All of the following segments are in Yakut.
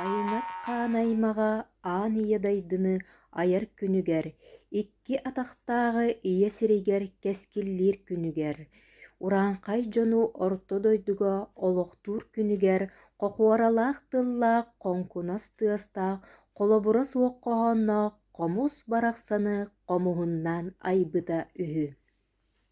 Айыҥат хаан аймаҕа аан ийэ дайдыны айар күнүгэр, икки атахтааҕы ийэ сиригэр кэскиллиир күнүгэр, урааҥхай дьону орто дойдуга олохтуур күнүгэр хохуоралаах тыллаах хоҥкунас тыастаах холобура суох хоһоонноох хомус барахсаны хомуһуннаан айбыта үһү.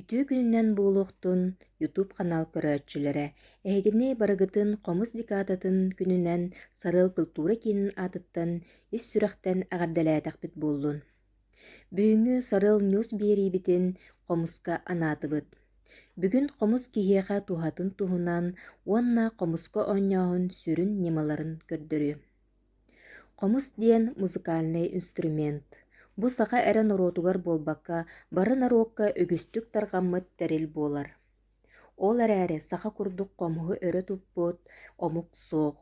Үтүө күнүнэн буолуохтун YouTube канал көрөөччүлэрэ эһигини барыгытын хомус декадатын күнүнэн Сарыал культура киинин аатыттан ис сүрэхтэн эҕэрдэлээтэхпит буоллун. Бүгүҥҥү Сарыал Ньюс биэриибитин хомуска анаатыбыт. Бүгүн хомус киһиэхэ туһатын туһунан уонна хомуска оонньооһун сүрүн ньымаларын көрдөрү. Хомус диэн музыкальнай инструмент. Бу саха эрэ норуотугар буолбакка, бары норуокка үгүстүк тарҕаммыт тэрил буолар. Ол эрээри саха курдук хомуһу өрө туппут омук суох.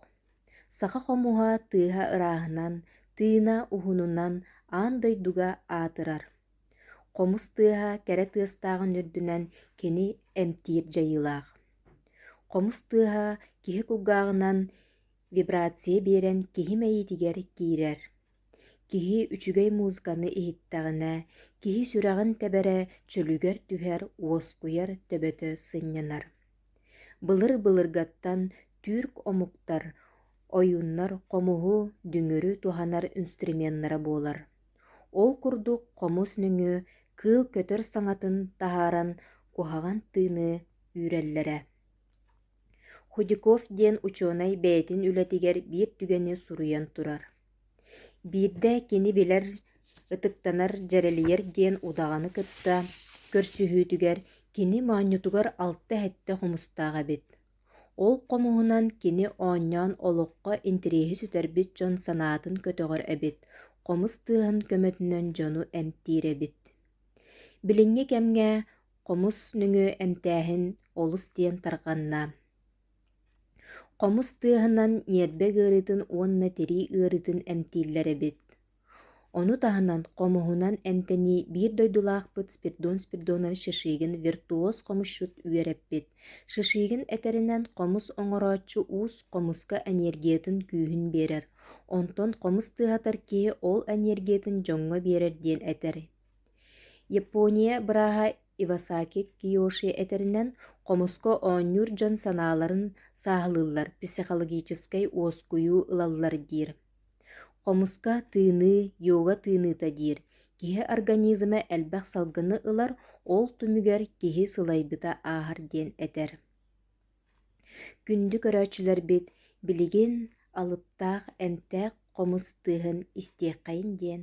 Саха хомуһа тыаһа ырааһынан, тыына уһунунан аан дойдуга аатырар. Хомус тыаһа кэрэ тыастааҕын үрдүнэн кини эмтиир дьайыылаах. Хомус тыаһа киһи кулгааҕынан Вибрация биэрэн киһи мэйиитигэр киирэр. Киһи үчүгэй музыканы иһиттэҕинэ, киһи сүрэҕин тэбэрэ чөлүгэр түһэр, уоскуйар төбөтө сынньанар. Былыр-былыргаттан түүрк омуктар, ойууннар хомуһу, дүҥүрү туһанар инструменнара буолар. Ол курдук хомус нөҥүө кыыл көтөр саҥатын таһааран куһаҕан тыыны үүрэллэрэ. Худяков диэн учуонай бэйэтин үлэтигэр биир түгэни суруйан турар. Биирдэ кини билэр, ытыктанар, дьэрэлийэр диэн удаҕаны кытта көрсүһүүтүгэр кини моонньутугар алта-сэттэ хомустаах эбит. Ол хомуһунан кини оонньоон олоххо интириэһи сүтэрбит дьон санаатын көтөҕөр эбит, хомус тыаһын көмөтүнэн дьону эмтиир эбит. Билиҥҥи кэмҥэ Хомус нөҥүө эмтээһин олус диэн тарҕанна. Хомус тыаһынан ньиэрбэ ыарыытын уонна тирии ыарыытын эмтииллэр эбит. Ону таһынан хомуһунан эмтэнии биир дойдулаахпыт Спирдон Спирдонович Шишигин виртуоз хомусчут үөрэппит. Шишигин этэринэн хомус оҥорооччу уус хомуска энергиятын күүһүн биэрэр. Онтон хомус тыаһатар киһи ол энергиятын дьоҥҥо биэрэр диэн этэр. япония бырааһа ивасаки киоши этэринэн хомуску оонньуур дьон санааларын сааһылыыллар психологическай уоскуйуу ылаллар диир хомуска тыыныы йога тыыныыта диир киһи организма элбэх салгыны ылар ол түмүгэр киһи сылайбыта ааһар диэн этэр күндү көрөөччүлэрбит билигин алыптаах эмтээх хомус тыаһын истиэххэйин диэн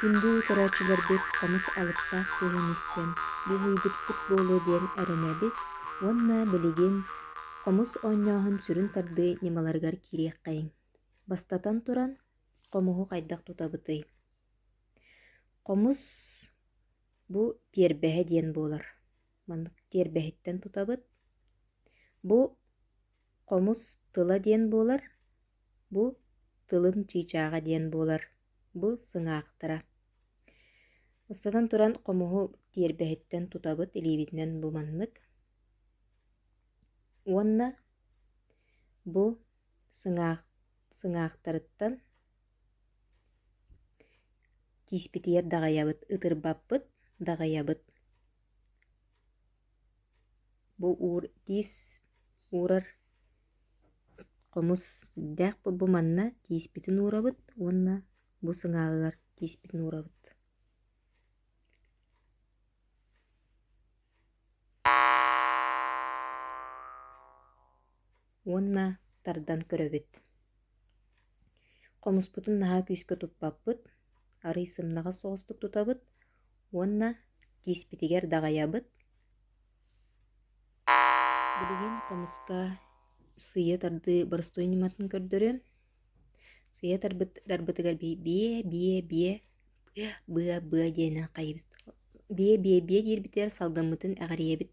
Күндү көрөөччүлэрбит Хомус алыптаах тыаһын истэн биэһийбиппит буолуо диэн эрэнэбит уонна билигин хомус оонньооһун сүрүн тардыы ньымаларыгар киириэххэйиҥ. Бастатан туран, хомуһу хайдах тутабытый? Хомус бу тиэрбэһэ диэн буолар. маннык тиэрбэһиттэн тутабыт. Бу хомус тыла диэн буолар, бу тылын чыычааҕа диэн буолар, бу сыҥаахтара. Ыстатан туран хомуһу тиэрбэһиттэн тутабыт илиибитинэн бу маннык. Уонна бу сыҥаах сыҥаахтарыттан тииспитигэр даҕайабыт, ытырбаппыт, даҕайабыт. Бу уур тиис уурар хомус дэх бу манна тииспитин уурабыт уонна бу сыҥааҕыгар тииспитин уурабыт уонна тардан көрөбүт. Хомуспутун наһаа күүскэ туппаппыт, арый сымнаҕас оҕустук тутабыт уонна тииспитигэр даҕайабыт. Билигин хомуска сыйа тардыы боростуой ньыматын көрдөрүм. Сыйа тарбыт тарбытыгар бии бие бие бие быа быа быа диэнэ хайбыт. Бие бие бие диирбитигэр салгаммытын эҕирийэбит.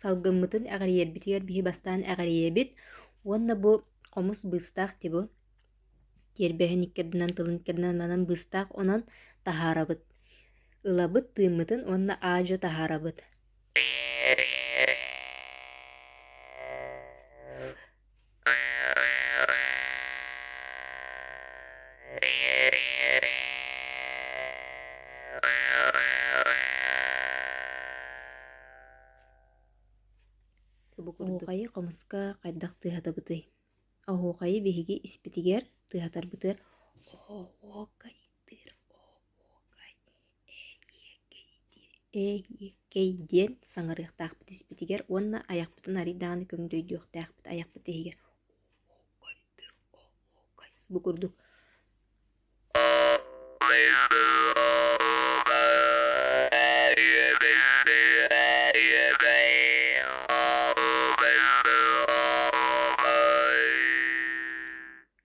Салгыммытын эҕирийэрбитигэр биһи бастаан эҕирийэбит уонна бу хомус быыстаах тибу тиэрбэһин икки ардынан тылын икки ардынан манан быыстаах онон таһаарабыт. Ылабыт тыыммытын уонна аа-дьо таһаарабыт. Оһуохайы хомуска хайдах тыаһатабытый? Оһуохайы биһиги испитигэр тыаһатарбытыгар оһуокай Эйиэкэй диэн саҥарыахтаахпыт испитигэр уонна айахпытын арый даҕаны көҥдөйдүөхтээхпит айахпыт иһигэр бу курдук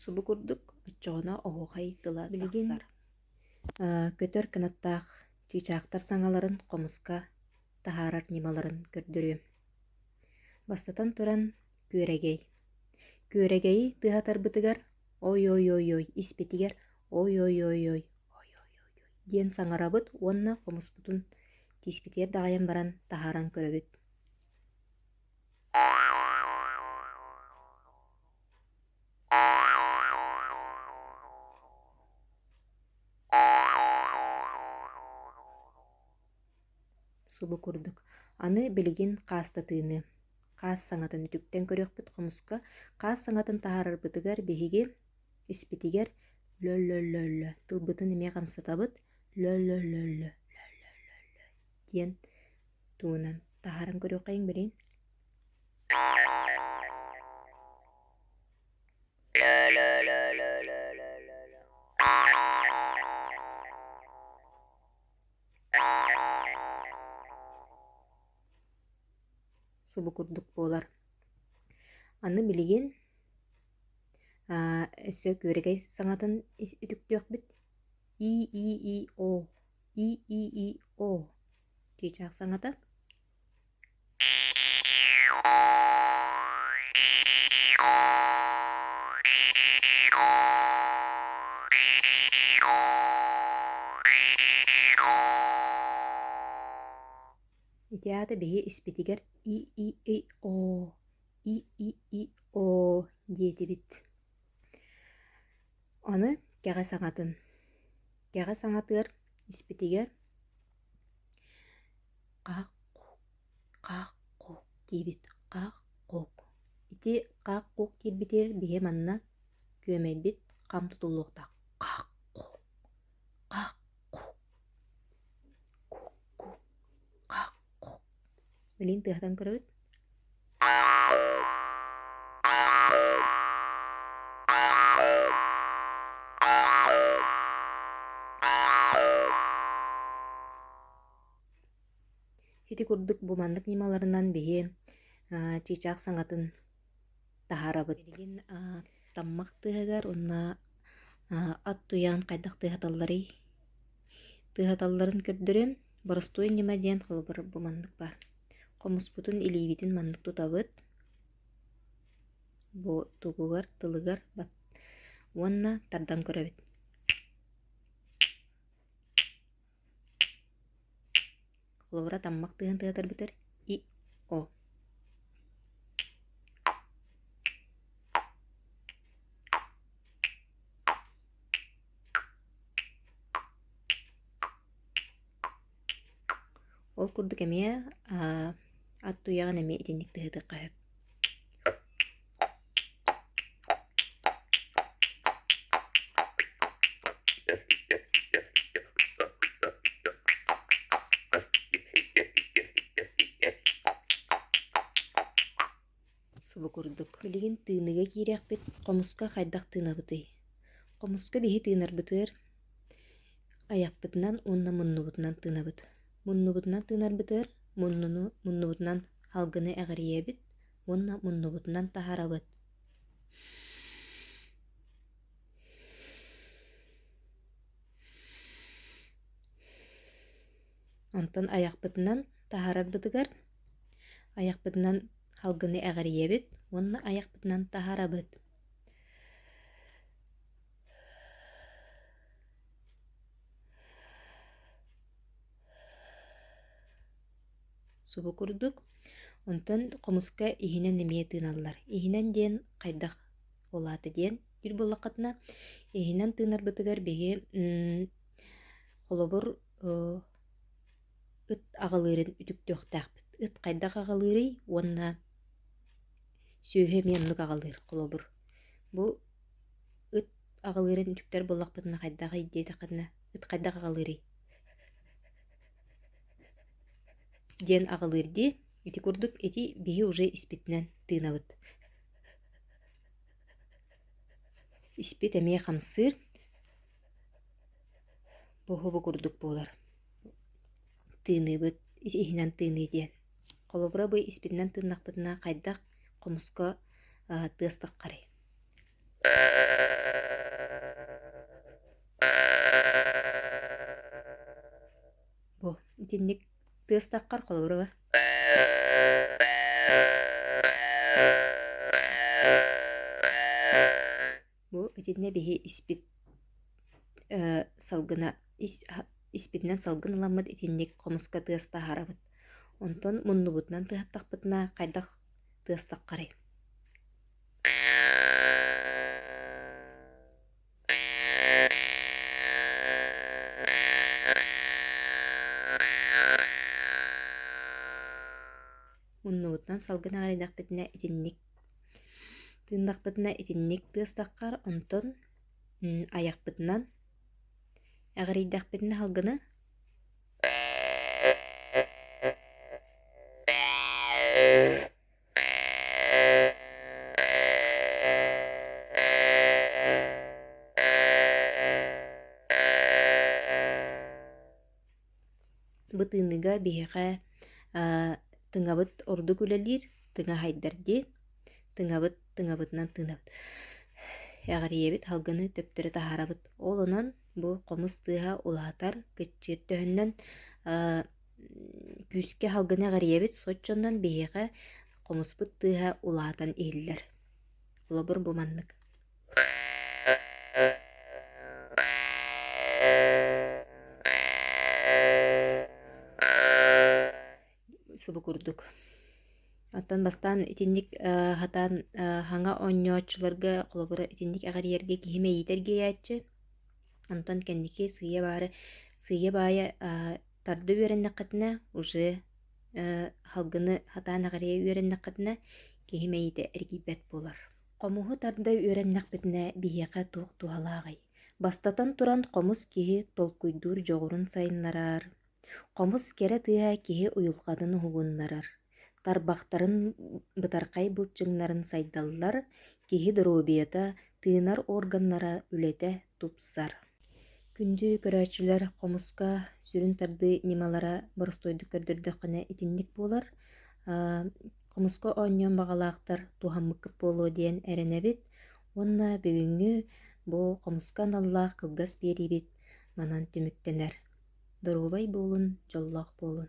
Субу курдук оччоҕуна оһуохай тыла тахсар. көтөр кынаттаах чыычаахтар саҥаларын хомуска таһаарар ньымаларын көрдөрүөм. Бастатан туран, күөрэгэй. Күөрэгэйи тыаһатарбытыгар ой-ой-ой-ой испитигэр ой-ой-ой-ой ой-ой-ой диэн саҥарабыт уонна хомуспутун тииспитигэр даҕайан баран таһааран көрөбүт. субу курдук аны билигин хаастатыыны хаас саҥатын үтүктэн көрүөхпүт хомуска хаас саҥатын таһаарарбытыгар биһиги испитигэр лөлөлөллө тылбытын эмиэ хамсатабыт лөлөлөллө диэн тугунан таһааран көрүөххэйиҥ билигин субу курдук буолар аны билигин өссө күөрэгэй саҥатын үтүктүөхпүт и и и о и и и о Кичаах саҥата. Итиаата биһи испитигэр и-и-и-оо, и-и-и-оо диэтибит. Аны кэҕэ саҥатын. Кэҕэ саҥатыгар испитигэр хаах хаах куук диибит хаах куук. Ити хаах куук диирбитигэр биһи манна күөмэйбит хам тутуллуохтаах. Хаах куук хаах куук куук куук хаах куук Билин тыаһатан көрөбүт Ити курдук бу маннык ньымаларынан биһи чыычаах саҥатын таһаарабыт. Билигин таммах тыаһыгар уонна ат туйаан хайдах тыаһаталларый? Тыаһаталларын көрдөрүм. Боростуой ньыма диэн холобур бу маннык баар. Хомуспутун илиибитин маннык тутабыт. Бу тугугар, тылыгар уонна тардан көрөбүт. Хлора таммак тыһан тыатар бүтэр и о Ол курдук эмиэ ат туйаҕын эмиэ итинник тыһытыахха сөп Субу курдук, билигин тыыныга киириэхпит, хомуска хайдах тыынабытый? Хомуска биһи тыынарбытыгар айахпытынан уонна муннубутунан тыынабыт. Муннубутунан тыынарбытыгар муннуну муннубутунан алгыны эҕирийэбит, уонна муннубутунан таһарабыт онтон айахпытынан таһарарбытыгар айахпытынан халгыны эҕирийэбит уонна айахпытынан таһарабыт субу курдук онтон хомуска иһинэн эмиэ тыыналлар иһинэн диэн хайдах ол аата диэн диир буоллаххытына иһинэн тыынарбытыгар биһи холобур ыт аҕалыырын үтүктүөхтээхпит ыт хайдах аҕалыырый уонна сүөһү эмиэ оннук аҕалыыр холобур бу ыт аҕалыырын үтүктэр буоллахпытына хайдах ий диэтэххитинэ ыт хайдах аҕалыырый диэн аҕалыыр дии ити курдук ити биһи уже испитинэн тыынабыт испит эмиэ хамсыыр бу уһубу курдук буолар тыыныыбыт ити иһинэн тыыныы диэн холобура бу испитинэн тыыннахпытына хайдах хомуска тыастаххарый Бу итинник тыастаххар холобура Бу итиннэ биһи испит салгына испитинэн салгын ыламмыт итинник хомуска тыас таһаарабыт. Онтон муннубутунан тыһаттахпытына хайдах тыастаххарый? Муннугуттан салгын аҕарыйдахпытына итинник тыыннахпытына итинник тыастаххар онтон айахпытынан аҕырийдэхпитинэ салгыны Бытыныга биһиэхэ тыҥабыт ордук үлэлиир, тыҥа хайдар дии. Тыҥабыт, тыҥабытынан тыынабыт. Эҕэрийэбит салгыны төптөрү таһаарабыт. Ол онон бу хомус тыаһа улаатар, кыччыыр төһөннөн күүскэ салгыны эҕэрийэбит соччонон биһиэхэ хомуспут тыаһа улаатан иһиллэр холобур бу маннык субу курдук оттон бастаан итинник сатаан саҥа оонньооччуларга холобура итинник эҕэрийэргэ киһи мэйиитэ эргийээччи онтон кэнники сыыйа баары сыыйа баайа Тарда үөрэннэххитинэ уже салгыны хатаан аҕарыйа үөрэннэххитинэ киһи мэйиитэ эргийбэт буолар. Хомуһу тарда үөрэннэхпитинэ биһиэхэ туох туһалааҕый? Бастатан туран, хомус киһи толкуйдуур дьоҕурун сайыннарар. Хомус кэрэ тыаһа киһи уйулҕатын уһугуннарар. Тарбахтарын бытархай былчыҥнарын сайдаллар, киһи доруобуйата, тыынар органнара үлэтэ тупсар. Күндү көрөөччүлэр хомуска сүрүн тардыы ньымалара боростуойдук көрдөрдөххүнэ итинник буолар. Хомуска оонньуон баҕалаахтар туһаммыккыт буолуо диэн эрэнэбит. Уонна бүгүҥҥү бу хомуска аналлаах кылгас биэриибит манан түмүктэнэр. Доруобай буолун, дьоллоох буолун.